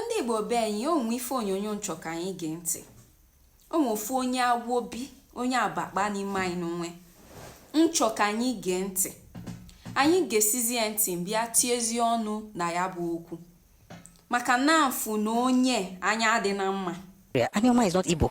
ndị igbo be anyị o nwe ife onyonyo m chọ ka anyị gee ntị o nwe ofu onye agwobi onye abakpa n'ime anyị n'onwe m chọ ka anyị gee ntị anyị gesizie ya ntị m bịa tiezie ọnụ na ya bụ okwu maka na m fụ na onye anya adịna mma Anioma is not Igbo.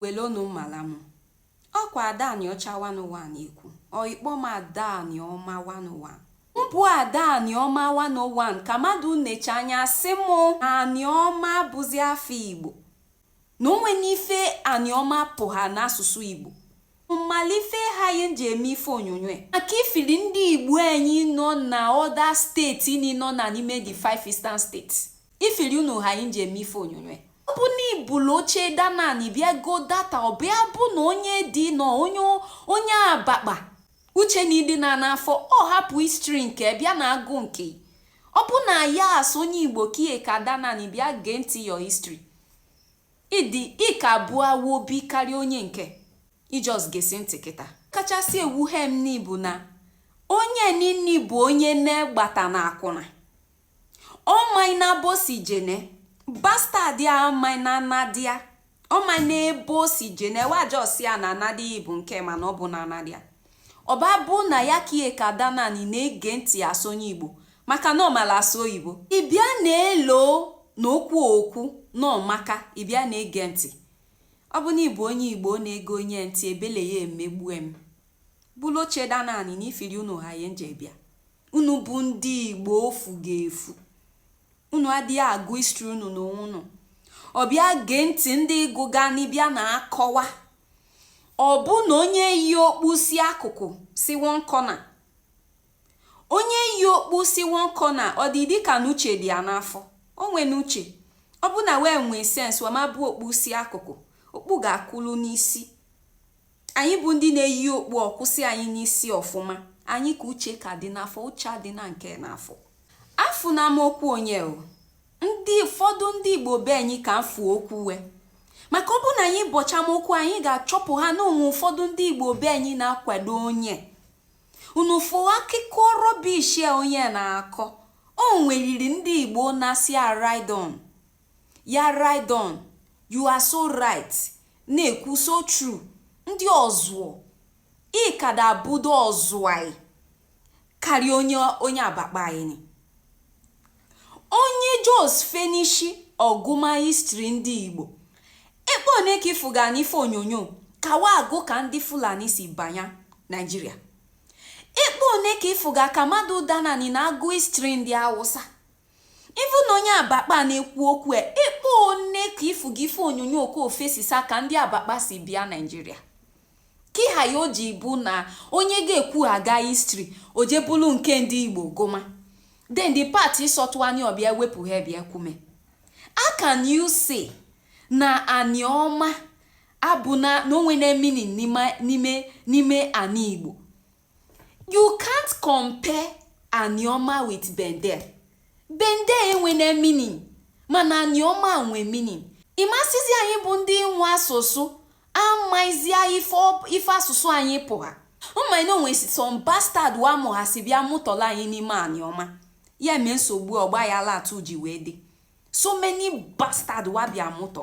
welonu mmala m ọ kwa ada Aniocha one n'ụwa na-ekwu or ị kpọ m ada Anioma one n'ụwa m bụ ada Anioma one n'ụwa ka mmadụ necha anya sị m Anioma bụzi afọ igbo na o nwena ife Anioma pụha n'asụsụ igbo mala ife haị m ji eme ife onyonyo maka ifili ndị igbo anyị nọ na other state ni nọna n'ime the five eastern states Ifili unu haị m ji eme ife onyonyo ọ bụ na i bulu oche da n'ani bịa go data ọ bịa bụ na onye dị na onye onye abakpa uche na adịna n'afọ ọ hapụ history nke bịa na-agụ nke ọ bụ na ya as onye igbo kie ka da n'ani bịa gee ntị your history ị dị ka ị bụ awobi karịa onye nke i just gesi ntị kịta kachasị ewuhe m ni bụ na onye nini bụ onye nne gbata na akwụna ọ maina ebe o si jene bastard a ọ maina nnadi a ọ maina ebe o si jene wa josi a na nnadi ị bụ nke mana ọ bụna nnadi a ọ bịa bụ na ya kie ka da n'ani na-ege ntị as onye igbo maka na ọ mala asụ oyibo ị bịa na-elo na okwu o kwu na ọ maka ị bịa na-ege ntị ọ bụ na ị bụ onye igbo na-ege onye ntị ebele ị emegbue m Bulu oche da n'ani na ifiri unu haị m ji bịa. Unu bụ ndị Igbo ofu ga-efu. Unu adịghị agụ history unu. Unu abịa gee ntị ndị gụga ni bịa na-akọwa. Ọ bụ na onye yi okpu si akụkụ si one corner. Onye yi okpu si one corner ọ dị dịka na uche dị ya n'afọ. O nwena uche. Ọ bụ na wee nwee sense wee mabụ okpu si akụkụ. Okpu ga-akwụlụ n'isi. Anyị bụ ndị na-eyi okpu ọ kwụsị anyị n'isi ọfụma. Anyị ka uche ka dị n'afọ, uche adịna nke n'afọ. Afụna m okwu onye o. Ndị ụfọdụ ndị Igbo be anyị ka afụ okwu we. Maka ọ bụ na anyị bọcha m okwu anyị ga-achọpụha na o nwe ụfọdụ ndị Igbo be anyị na-akwado onye. Unu fụ akụkọ rubbish a onye na-akọ. O nweliri ndị Igbo na-asị a ride on. Ya ride on, you are so right, na-ekwu so true, ndị ọzụọ, ị kada abụdo ọzụọ karịa onye onye abakpa anyị ni. Onye just finish ọgụma history ndị Igbo, ekpe one ka ị fụga n'ife onyonyo ka wa agụ ka ndị Fulani si banya Nigeria. Ekpe one ka ị fụga ka mmadụ da n'ani na-agụ history ndị Awụsa. Ị fụ na onye Abakpa a na-ekwu okwu a, ịkpọ one ka ị fụ gị ife onyonyo ka ofesi sa ka ndị Abakpa si bịa Naịjirịa? Kị ha ya o ji bụ na onye ga-ekwu aga histri o je bulu nke ndị Igbo gụma then the part ịsọtụ anya ọ bịa wepụ ha bịa kwume how can you say na Anioma abụ na o nwene meaning n'ime anị Igbo You can't compare Anioma with Bendel. Bendel enwene meaning mana Anioma nwe meaning. Ị ma-asịzi anyị bụ ndị nwe asụsụ amaizia ife asụsụ anyị pụha mana o nwe some bastard wa mụghasị bịa mụtọlụ anyị n'ime Anioma ya mee nsogbu ọgbayala tụ ji wee dị so many bastard wa bịa mụtọ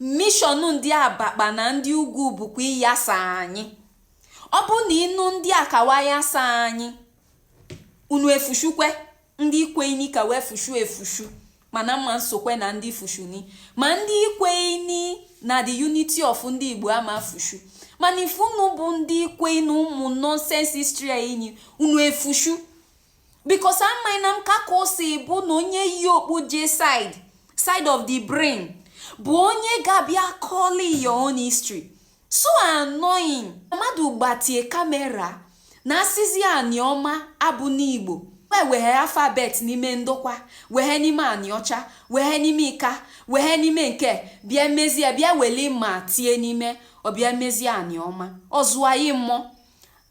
mishọn ndị abakpa na ndị ugwu bụkwa ịyasa anyị ọ bụ na unu ndị aka wa yasa anyị unu efushukwe ndị kweini ka wa efushu efushu mana m ma-esokwe na ndị fushuni ma ndị kweini na the unity of ndị igbo ama-efushu mana ị fụ unu bụ ndị kweini ụmụ nonsense history enyi unu efushu because amaghị na m ka ka o si bụ na onye yi okpu je side of the brain bụ onye ga-abịa kọlị your own history so annoying mmadụ gbatie kamera na-asịzi Anioma abụna Igbo wee weghe alfabet n'ime Ndokwa weghe n'ime Aniocha weghe n'ime Ika weghe n'ime nke a mezie bịa weli ma tie n'ime ọ bịa mezie Anioma ọzụayi mmụọ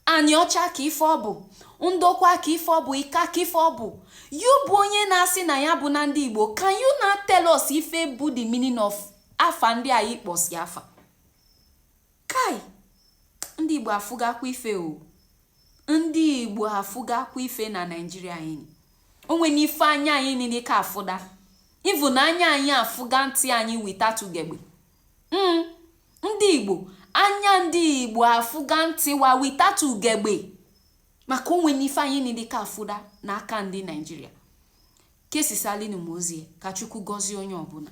Aniocha ka ife ọ bụ, Ndokwa ka ife ọ bụ, Ika ka ife ọ bụ. Yị bụ onye na-asị na ya abụna ndị Igbo, can you now tell us ife bụ the meaning of afa ndị a ị kpọsị afa? Kai! Ndị Igbo afụgakwa ife o. Ndị Igbo afụgakwa ife na Naịjirịa anyị. O nwene ife anya anyị niile ka afụda. Ị vụ na anya anyị afụga ntị anyị without ugegbe. Mm, ndị Igbo, anya ndị Igbo afụga ntị wa without ugegbe maka o nwene ife anyị nile ka afụda n'aka ndị Naijiria. Kesisalịnụ m ozi a ka Chukwu gọzie onye ọbụna.